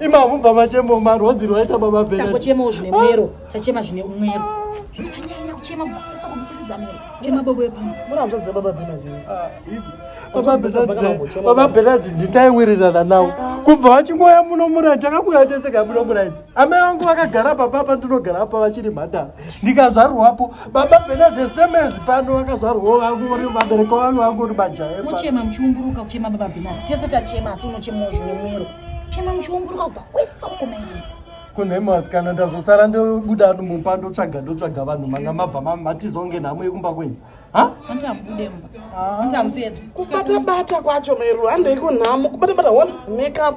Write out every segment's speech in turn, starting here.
imamhu bva machemo marwodzi rwaita baba bena takochema zvine mwero tachema zvine mwero anyanya kuchema kusa kumutiridza mwero chema bobo yepamwe mura hanzvadzi baba bena zvine baba benard nditaiwirirana nawo kubva vachingoya muno murai takakuya tese kai muno murai amai vangu vakagara papa apa ndinogara apa vachiri mhandara ndikazvarwapo baba benade semezi pano vakazvarwawo vangori vabereki vangu vangori majaya muchema muchiumburuka kuchema baba benade tese tachema asi unochemawo zvine mwero chema muchiumburuka kubva kwese uko maimai kunhema vasikana ndazosara ndobuda mumba ndotsvaga ndotsvaga vanhu manga mabva matizonge nhamo yekumba kwenyu kubatabata kwacho mairo handei kunhamo kubatabata one makeup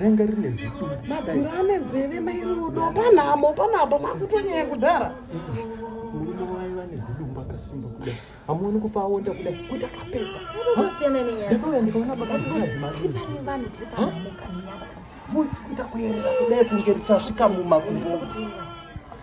renga rine zimadziro ane nzeve mairudo panhamo panhamo makutonyaya kudhara murume wayo vane zidumbu akasimba kudai hamuoni kufa aonda kudai kuti akapepa ndosiyana nenyaya ndikaona bakaaazimavanhu tiri paamuka futi kuita kuerera kudai kunge tasvika mumakumbo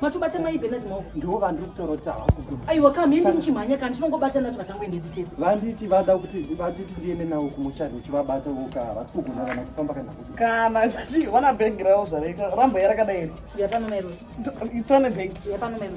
matobata mai benard maoko ndiwo vandiri kutorota aiwa kam hendi muchimhanya kana tinongobata nacho vatangoendedu tese vanditi vada kuti vanditi ndiende nawo kumuchari uchivabata woka havasi kugona kana kufamba kana kuti kana zvichi wana bhegi ravo zvareka rambo yarakadai iri yapano mairo itswane bhegi yapano mairo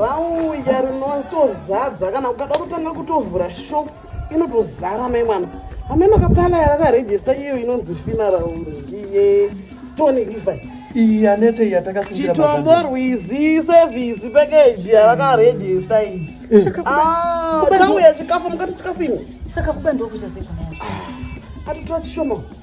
rauya rinotozadza kana ukada kutanga kutovhura shop inotozara mai mwana ameno kapala yavakarejista iyo inonzi fina rauri iye stone river iyi anete iyi yatakasungirira chitombo rwizi sevhisi pekeji yavakarejista iyi tauya chikafu mukati chikafu ini saka kubandwa kuchazekana ah, atotora chishoma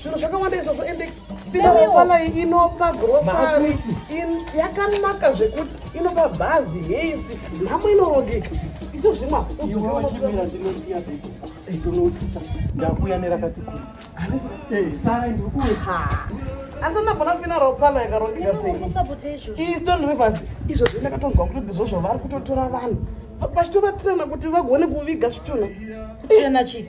zvinhu zvakawanda izvozvo ende pinaapanai inopa grosari yakanaka zvekuti inopa bhazi heisi nhamo inorongeka iso zvimwa unotuta ndakuya nerakati kuri sara ndiri kuwe asi ndagona fina ropana yakarongeka seieastone rivers izvo zve ndakatonzwa kuti ndizvo zvavari kutotora vanhu vachitovatirana kuti vagone kuviga zvitunha kutirana chii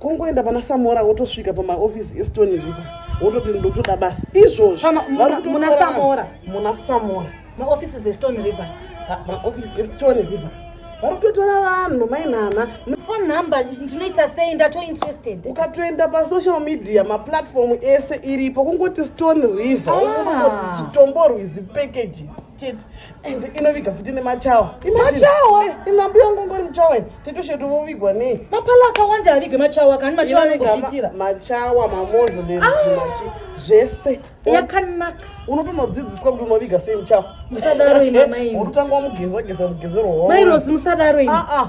kungoenda pana samora wotosvika pamaofisi estony river wototi ndotoda basa izvozvo muna samora muna samora maofisi zestony rivers maofisi estony rivers vari kutotora vanhu mainhana phone number ndinoita sei ndatointerested ukatoenda pasocial media maplatform ese iripo kungoti stone river ah. chitombo rwizi packages chete and inoviga futi nemachawa machawa eh, inambi yangu ngori muchawa tetoshetu vovigwa nei mapala akawanda avigwe machawa kani machawa anongozviitira machawa mamoslem machi ah! zvese yakanaka unotonodzidziswa kuti unoviga sei muchawa musadaro ine mai unotanga wamugeza geza mugezero wao mai rosi musadaro ine ah, ah.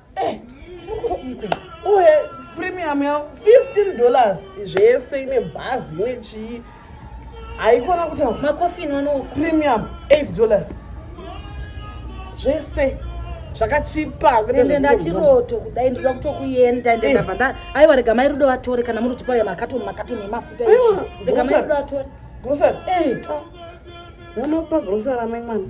Eh, uye premium yavo 15 dollars zvese ine bhazi ine chii haikona kutaura makofini wanofa premium 8 dollars zvese zvakachipa ende ndati roto kudai ndinoda kutokuenda ende eh. ndabva nda aiwa rega mai rudo vatore kana muri kutipa uya makatoni makatoni emafuta ichi rega mai rudo vatore grocery eh. ah. unopa grocery amai mwana